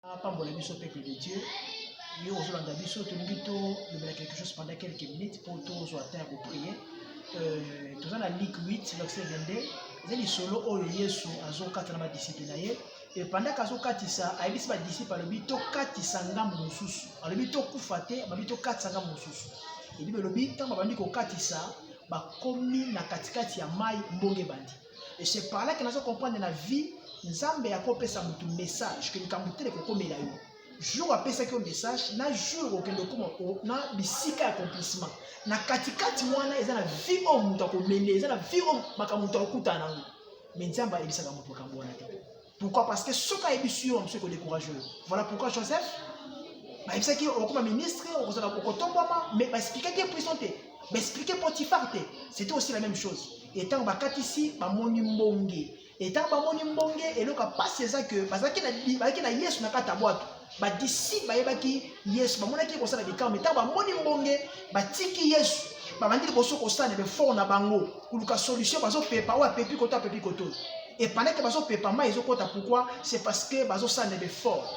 apambola biso peuple de dieu yo ozolanda biso tolingi tolobela quelque chose pendant quelques minutes mpo tozwa temps ya koprie euh, toza na lik 8 verset 22 eza lisolo oyo yesu azokata na badisiple na ye epandaka azokatisa ayebisi badisiple alobi tokatisa ngambo mosusu alobi tokufa te alobi tokatisa ngambo mosusu ebibe elobi ntango babandi kokatisa bakomi na katikati ya mai mbonge ebandi Et c'est par là que nazo comprendre na vie Nzambe yako pesa mutu message que likambo tele kokomela yo. Jour apesaki yo message na jour okende okoma na bisika ya accomplissement. Na katikati wana eza na vie oyo mutu akomele, eza na vie oyo makambo mutu akokutana nango. Mais Nzambe ayebisaka mutu makambo wana te. Pourquoi Parce que soki ayebisi yo mosusu ekodecourage yo. Voilà pourquoi Joseph bayebisaki ye okoma ministre okozala okotombwama mais baexplikaki ye prison te baexplike potifar te c'était aussi la même chose e ntango bakatisi bamoni mbonge e ntango bamoni mbonge eloko ya mpasi eza ke bazalaki na yesu na kati ya bwato Badisiple bayebaki Yesu, bamonaki ye kosala bikamwa, mais ntango bamoni mbonge, batiki Yesu, babandi liboso kosala na befort na bango, koluka solution, bazopepa oyo apepi koto, apepi koto. Et pendant que bazopepa, mai ezokota, pourquoi? C'est parce que bazosala na befort.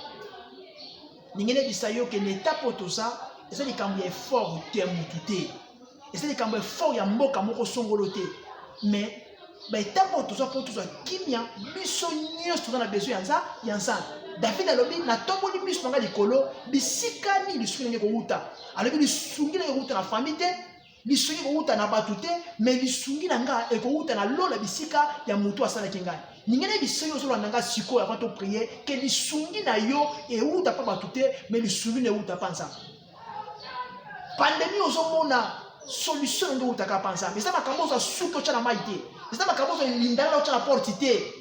Ningi nayebisa yo ke na etape oyo toza, eza likambo ya effort te ya mutu te. eza likambo effort ya mboka moko songolo te mais baetape oyo toza mpo tozwa kimya biso nyonso toza na besoin yanza ya nzambe david alobi natomboli miso na ngai likolo bisika nini lisungi nange kowuta alobi lisungi nange kowuta na fami te lisungi kowuta na bato te me lisungi na ngai ekowuta na lola bisika ya motu asalaki ngai ninga nayebi soki ozolanda ngai sikoyo avant toprie ke lisungi na yo ewuta mpa bato te me lisungi na ewuta mpa nzambe pandemi ozomona solution nde outaka pa nzambe eza makambo ozwa suki otya na mai te eza makambo ozwa lindala otya na porte te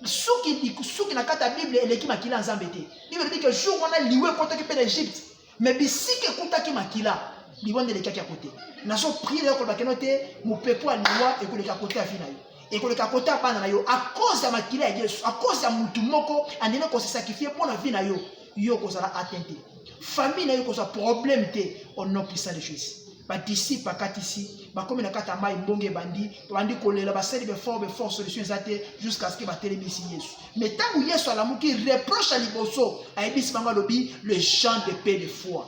suki suki na kati ya bible eleki makila ya nzambe te bible elobi ke jour wana liwa ekotaki mpe na egypte me bisika ekutaki makila liwa nde elekaki ya kote nazo prie nayo koloba keno te mopepo ya liwa ekoleka kote ya vi na yo ekoleka kote ya bana na yo akoze ya makila ya yesu akoze ya motu moko andimi kosesakrifie mpo na vi na yo yo okozala atteint te famille na yo ekozwa problème te au nom puissant de jésus badisiple bakatisi bakomi na kati ya mai mbongo ebandi babandi kolela basali befort befort solution eza te jusqu'à ce que batelemisi yesu mais ntango yesu alamuki reproche ya liboso ayebisi bango alobi le genre de paix de foi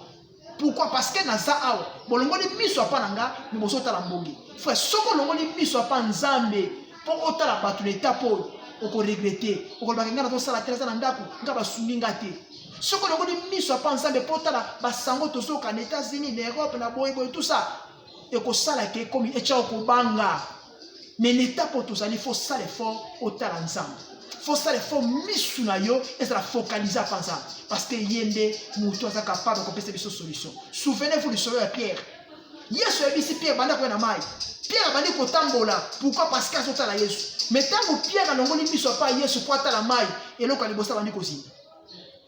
Pourquoi? Parce que naza awa. Bolongoli miso apa na nga, mais bozo tala mbongi. Frère, soko olongoli miso apa Nzambe, po otala bato na état po oko regretter. Okolobaka nga nazo sala te, naza na ndako, nga basungi nga te. Soko olongoli miso apa Nzambe po otala basango tozoka na États-Unis, na Europe, na boye boye tout ça, ekosala ke comme echa okobanga. mais na etape oyo tozali fo sala effort otala nzambe fo sala effort misu na yo ezala focalise apa nzambe parce que ye nde motu aza capable kopesa biso solution souvenez vous lisolo ya pierre yesu ayebisi pierre banda koya na mai pierre abandi kotambola pourquoi parce que azotala yesu mais ntango pierre alongoli miso apa yesu mpo atala mai eloko ya liboso abandi kozinda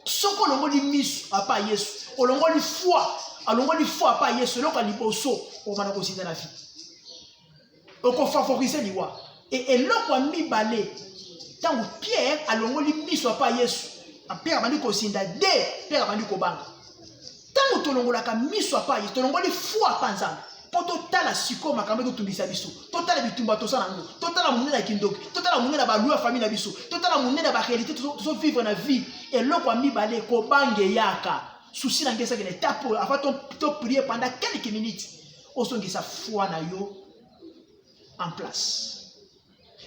soki olongoli miso apa yesu olongoli foi alongoli foi apa yesu eloko ya liboso obanda kozinda na vie okofavorize liwa e eloko ya mibale ntango pierre alongoli miso apa yesu pierre abandi kozinda de pierre abandi kobanga ntango tolongolaka miso apa yesu tolongoli fwa apa nzambe mpo totala sikoyo makambo ekotungisa biso totala bitumba toza na yango totala monene ya kindoki totala monene ya balui ya famille na biso totala monene ya baréalité tozovivre na vie eloko ya mibale kobange eyaka susi na ngai ezaki na etape oyo afa toprie pendant quelques minutes ozongisa foi na yo en place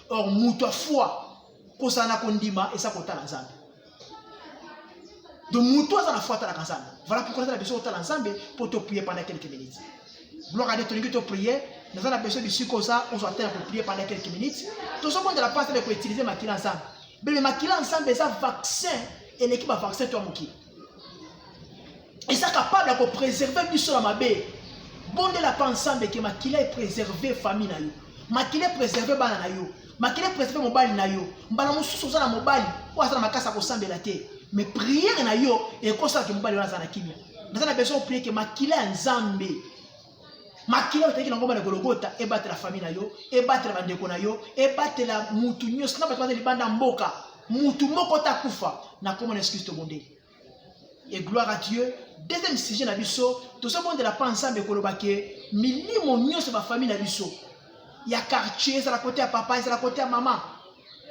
or moto ya foi kozala na kondima eza kotala nzambe donc moto aza na foi atalaka nzambe voilà pourquoi aza na biso kotala nzambe mpo toprie pendant quelques minutes gloire ade tolingi toprie naza na biso bisika oza ozwa te ya koprie pendant quelques minutes tozobondela mpasi na koutilize makila nzambe bebe makila nzambe eza vaccin eleki bavaccin to ya mokili eza capable ya kopreserve biso na mabe bondela mpa nsambe ke makila epreserve famille na yo makila epreserve bana na yo makila epreserve mobali na yo mbala mosusu oza na mobali oyo aza na makasi ya kosambela te me priere na yo ekosalaka mobali wana aza na kimia naza na besoin oprie ke makila ya nzambe makila oteki na ngomba na gologota ebatela fami na yo ebatela bandeko na yo ebatela mutu nyonso na bato baza libanda mboka mutu moko te akufa na nkombo na yesu kristo bondeli e gloire à dieu deuxième sujet na biso tozobondela mpa nzambe koloba ke milimo nyonso bafami na biso ya quartier ezala kote ya papa ezala kote ya mama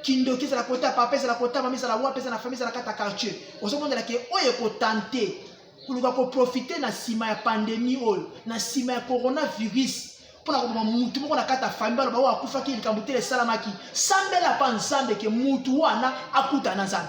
kindoki ezala kote ya papa ezala kote ya mama ezala wapi ezala na fami ezala kata quartier ozobondela ke oyo ekotante koluka koprofite na nsima ya pandemi oyo na nsima ya coronavirus mpo na koboma mutu moko na kati ya fami baloba oyo akufaki likambo te esalamaki sambela mpa nzambe ke mutu wana akuta na nzambe